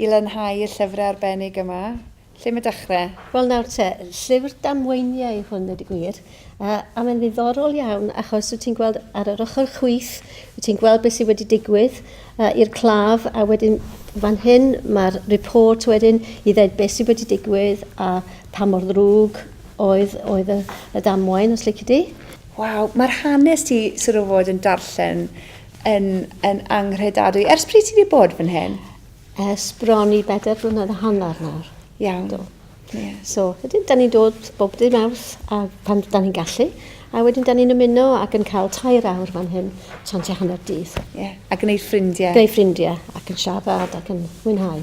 I lanhau y llyfrau arbennig yma, lle mae dechrau? Wel nawr te, llyfr damweiniau yw hwn ddweud y gwir, a mae'n ddiddorol iawn achos wyt ti'n gweld ar yr ochr chwith, wyt ti'n gweld beth sydd wedi digwydd i'r claf a wedyn fan hyn mae'r report wedyn i ddweud beth sydd wedi digwydd a pa mor ddrwg oedd, oedd y, y damwain os lici di. Waw, mae'r hanes ti sort of fod yn darllen yn, yn anghredadwy. Ers pryd ti wedi bod fan hyn? Ers bron i bedair blynedd a hanner nawr. Iawn. Do. Yeah. So, wedyn, da ni'n dod bob dim awrth a pan da ni'n gallu. A wedyn, da ni'n ymuno ac yn cael tair awr fan hyn, tan ti hanner dydd. Yeah. A gwneud ffrindiau. Gwneud ffrindiau, ac yn siarad, ac yn mwynhau.